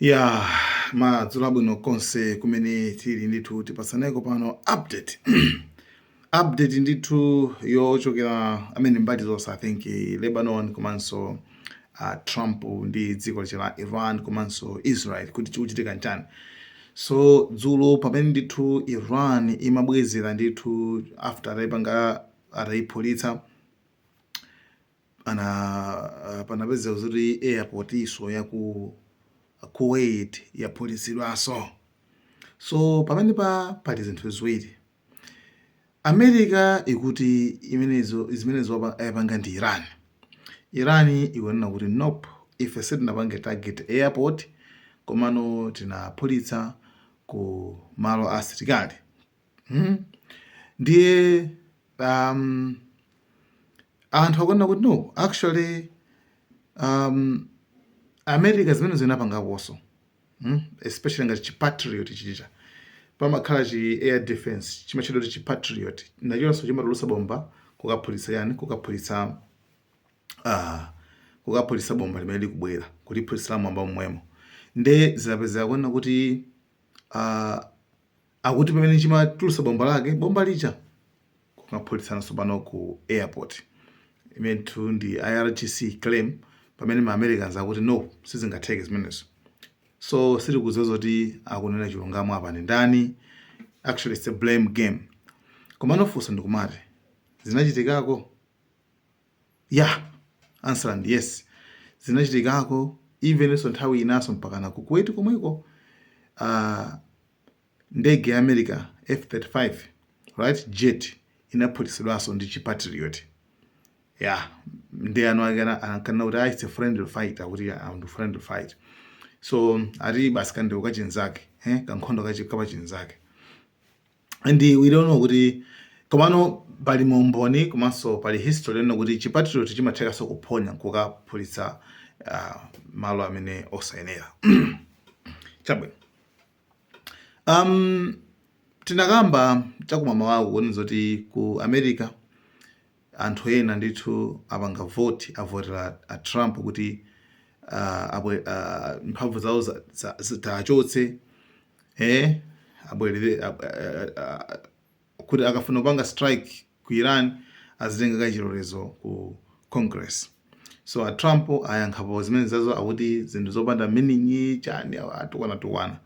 ya madzulo abwino konse kumene tili ndithu tipatsaneko pano update update ndithu yochokera amene mbali zonse i think lebanon komanso a trump ndi dziko lache la iran komanso israel kuti chikuchitika nchani so dzulo pamene ndithu iran imabwezera ndithu after ataipanga ataiphulitsa Pana uh, panapezeka zoti airport naso ya ku Kuwait yaphulitsidwaso. So pamene pa pali zinthu ziwiri. America ikuti imenezo zimenezo yapanga ndi Iran. Iran ikunena kuti nope, ife sitinapange target airport komano tinaphulitsa ku malo a asilikali hmm? ndiye um, anthu akunena kuti no actually um, america zimene zinapangakoso hmm? especially ngati chipatriot chija pamakhala chi air defense chimatchedwa kuti chipatriot nachonso chimatulusa bomba kukaphulitsa yani kukaphulitsa uh, kukaphulitsa bomba limene likubwera kuliphulitsira mmwamba momwemo nde zinapezeka kunena kuti uh, Akuti pamene chimatulusa bomba lake bomba lija kukaphulitsa tsopano ku airport imenetu ndi irgc claim pamene ma americans akuti no sizingatheke zimenezo so sitikudziwa zoti akunena chilungamo apa ndi ndani actually it's a blame game komano funso ndikumati zinachitikako ya answer is yes zinachitikako evenso nthawi inaso mpakana ku kuwait komweko ah, Ndege ya America F-35 fighter jet inaphulitsidwaso ndi chi Patriot ya nde eni ake ankanena kuti ah, it's a friendly fight akuti ah, ndi friendly fight so ati basi kandeu kachinzake eh, kankhondo kachikapa chinzake and we don't know kuti komano pali umboni komanso pali history yonena kuti chipatrioti chimathekaso kuphonya nkukaphulitsa uh, malo amene osayenera chabwino Am, tinakamba chakumamawaku kunena zoti ku America anthu ena ndithu apanga vote avotera a Trump kuti ah, abwe ah, mphamvu zawo za- za- azichotse eh abwerere ab- ah, ah, kuti akafuna kupanga strike ku Iran azitenga kaye chilolezo ku congress so a Trump ayankhapo zimenezazo akuti zinthu zopanda meaning chani atukwana tukwana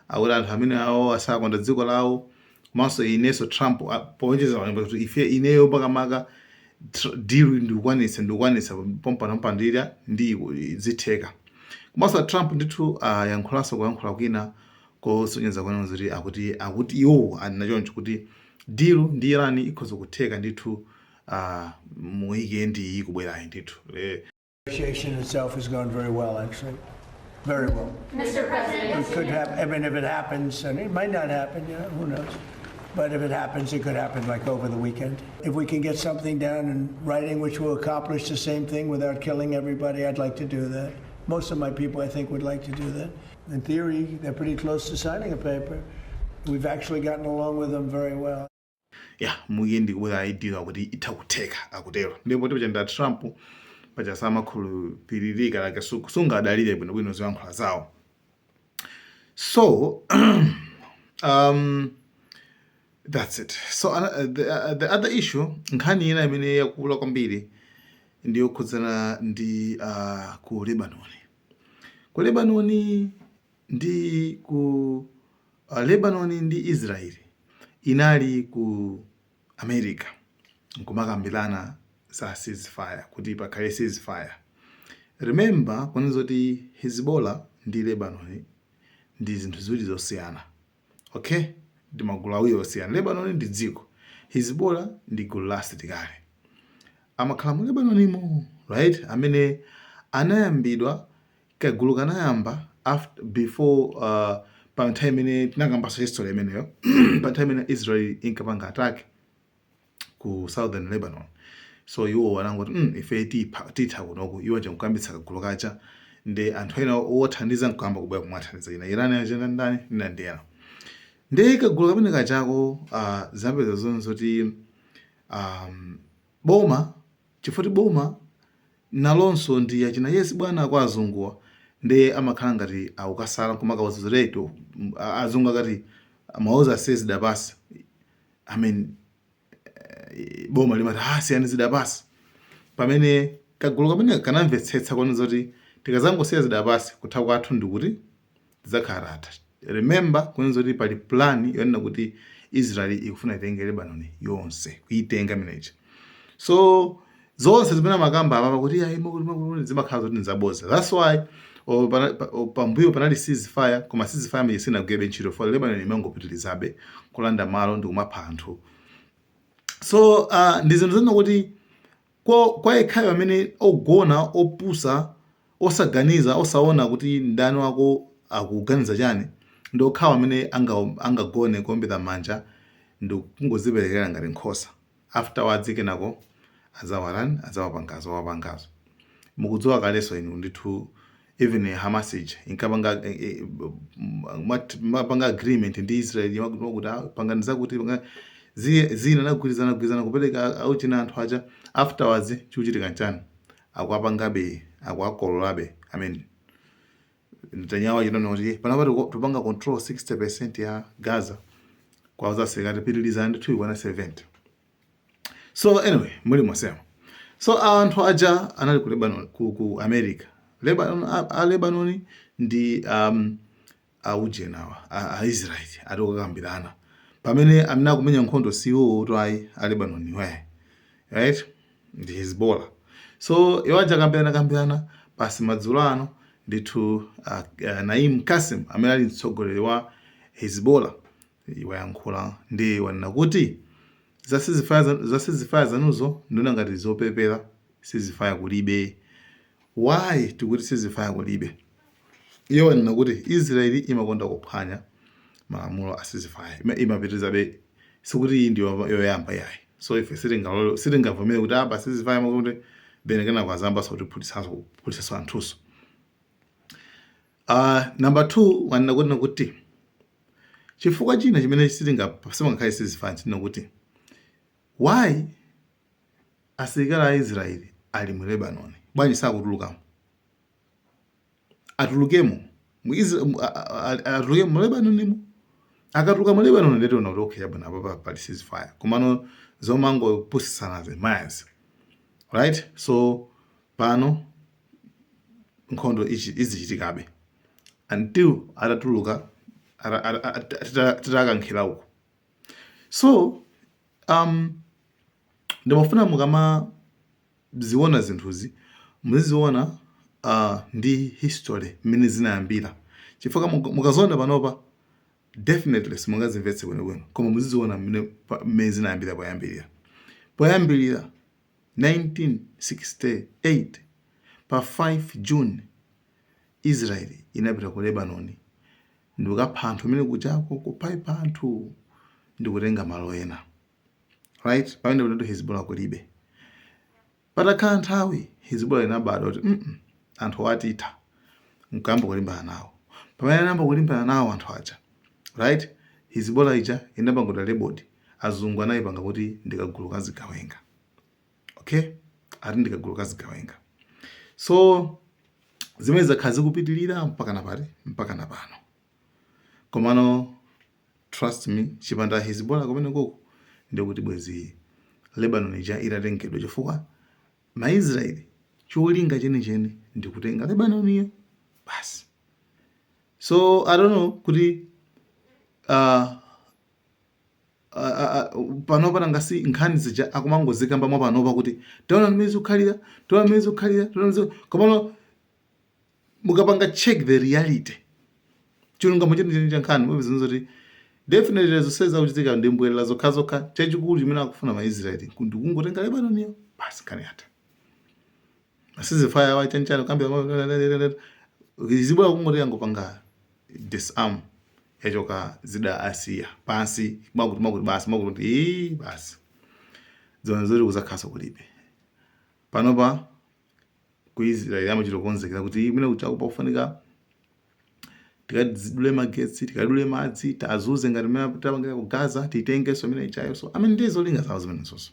akuti anthu amene awo asakonda dziko lawo komanso inenso Trump a- powonjezera kuti ife ineyo makamaka tr- deal ndikukwanitsa ndikukwanitsa pompano pandira ndi zitheka komanso a Trump ndithu ayankhulanso kuyankhula kwina kosonyeza kunena zoti akuti akuti iwo anena choncho kuti deal ndi Iran ikhoza kutheka ndithu a mu weekend iyi kubwerayi ndithu le negotiation itself has gone very well, actually. Very well. Mr. President, It could happen, I mean, if it happens, and it might not happen, you know, who knows? But if it happens, it could happen like over the weekend. If we can get something down in writing which will accomplish the same thing without killing everybody, I'd like to do that. Most of my people, I think, would like to do that. ya mukhe ndikubwera idea kuti itha kutheka akutero ndipo tipo chanda Trump paja samakhulupilirika like sungadalire bwino bwino zoyankhula zawo so um, that's it so uh, the, uh, the other issue nkhani ina imene yakula kwambiri ndiyokhudzana ndi uh, ku Lebanon Ku Lebanoni ndi ku uh, Lebanoni ndi Israel inali ku America nkumakambirana za ceasefire kuti pakhale ceasefire. Remember kunena zoti Hezbollah ndi Lebanoni ndi zinthu ziwiri zosiyana. Okay? Ndi magulu awiri osiyana. Lebanoni ndi dziko. Hezbollah ndi gulu la asilikali. Amakhala mu Lebanonimo, right? Amene anayambidwa kagulu kanayamba after before uh, pa nthawi imene tinakambaso history imeneyo pa nthawi imene Israel inkapanga attack ku Southern Lebanon so iwo anangoti mm, ife titha kunoku iwo nje mkuyambitsa kagulu kaja ndi anthu ena owathandiza mkuyamba kubwera kumawathandiza ina Iran achani ndani nina ndi ena ndi kagulu kamene kajako uh, zapeza zonse zoti um, boma chifukwa boma nalonso ndi achina yes bwana kwa azunguwa nde amakhala ngati akukasala koma kawazizireti azungu akati mauza siyani zida pansi I mean, eh, boma limati ah, siyani zida pansi pamene kagulu kamene kanamvetsetsa kunena zoti tikazangosiya zida pansi kutha kwathu ndikuti tizakhala tatha remember kunena zoti pali plan yonena kuti israel ikufuna itenge lebanon yonse kuitenga minaka so zonse zimene amakamba apapa kuti zimakhala zoti nzaboza that's why pambuyo panali ceasefire koma ceasefire imene sinagwirebe ntchito for lebanon imangopitirizabe kulanda malo ndi kumapha anthu so uh, ndi zinthu zina kuti kwa yekhayo amene ogona opusa osaganiza osaona kuti mdani wako akuganiza chani ndi okhawo amene angagone kuombera manja ndi kungoziperekera ngati nkhosa afterwards kenako adzawatani adzawapangazo awapangazo mukudziwa kaleso inu ndithu even hamas ija inkapanga mwat mapanga agreement ndi israel mwakuti mwakuti ah, pangani zakuti pangani zi- zina nagwirizana gwirizana kupereka a- aujeni anthu aja afterwards chikuchitika nchani akuwapangabe akuwakololabe i mean Netanyahu wachita kunena kuti panopa tiku- tikupanga control 60% ya gaza kwauza asilikali pitilizani ndithu ikwane 70 so anyway mulimonsemo so anthu aja anali ku lebanon ku, ku america lebanon a, a lebanon ndi um, aujeniwa aisraeli ati kukakambirana pamene amene akumenya nkhondo siwotu ayi a lebanon we right ndi Hizbola. So iwo aja akambirana kambirana pansi madzulo ano ndithu uh, uh, Naim Kasim amene ali mtsogoleri wa Hizbola wayankhula ndi wanena kuti za ceasefire zanuzo ndiona ngati zopepera ceasefire kulibe Why tikuti ceasefire kulibe? Iye wanena kuti Israel imakonda kuphwanya malamulo a ceasefire. Ima, imapitirizabe sikuti iyi ndi yoyamba yayi. So ife sitingalole sitingavomere kuti apa ah, ceasefire mwakuti then kenako azayambanso kutiphutitsanso kuphutitsanso anthuso. Uh, number 2 wanena kuti kuti chifukwa china chimene sitinga simangakhale ceasefire china nkuti why Asilikali a Israel ali mu Lebanon bwanji sakutulukamo? Atulukemo mu Isra mu- a- a- a- atulukemo mu Lebanonimo. Akatuluka mu Lebanon ndiye tiona kuti okay chabwino apa pa- pali ceasefire. Komano zomangopusisana zimenezi. Right? So pano nkhondo ichi- izichitikabe until atatuluka ata- ata- ata- tita- titakankhira uko. So, um, ndimafuna mukamaziona zinthuzi muziziona uh, ndi history mmene zinayambira chifukwa muka- mukaziona panopa definitely simungazimvetse bwinobwino koma muziziona mmene pa- mmene zinayambira poyambirira poyambirira 1968, pa 5 June, Israel inapita ku Lebanon ndikukapha anthu kumene kujako, kuphaipha anthu ndikutenga malo ena. Right? Pamene kunetu Hezbollah kulibe. Patakhala nthawi, Hezbollah inabadwa kuti, mm, -mm anthu watitha nkuyamba kulimbana nawo pamene anayamba kulimbana nawo anthu aja right hizibora ija inapangidwa labeled azungu anaipanga kuti ndi kagulu ka zigawenga okay ati ndi kagulu ka zigawenga so zimene zakhala zikupitirira mpaka napa- mpaka napano komano trust me chipanda hezbollah kumene koko ndikuti bwezi lebanon ija itatengedwa chifukwa maisraeli cholinga chenicheni ndi kutenga lebanoniyo basi so i don't know kuti uh, panopa nanga si nkhani zija akumangozikamba mwa panopa kuti taona mmene zikukhalira taona mmene zikukhalira taona mmene ziku- komano mukapanga check the reality chilungamo chenicheni cha nkhani mupeza kuti definitely zonse zakuchitika ndi mbwerera zokhazokha chachikulu chimene akufuna maisraeli ndikungotenga lebanoniyo basi nkhani yatha a ceasefire wa chanichani kamba Hezbollah kungoti yangopanga disarm yachoka zida asiya pansi makuti makuti basi makuti kuti ii basi zoona zoti kuzakhalanso kulibe panopa ku israel amachita kukonzekera kuti kumene kuja kukufunika tikadule magetsi tikadule madzi tiwazunze ngati mmene tapangira ku gaza titengenso imene ijayo so i mean ndiye zolinga zawo zimenezonso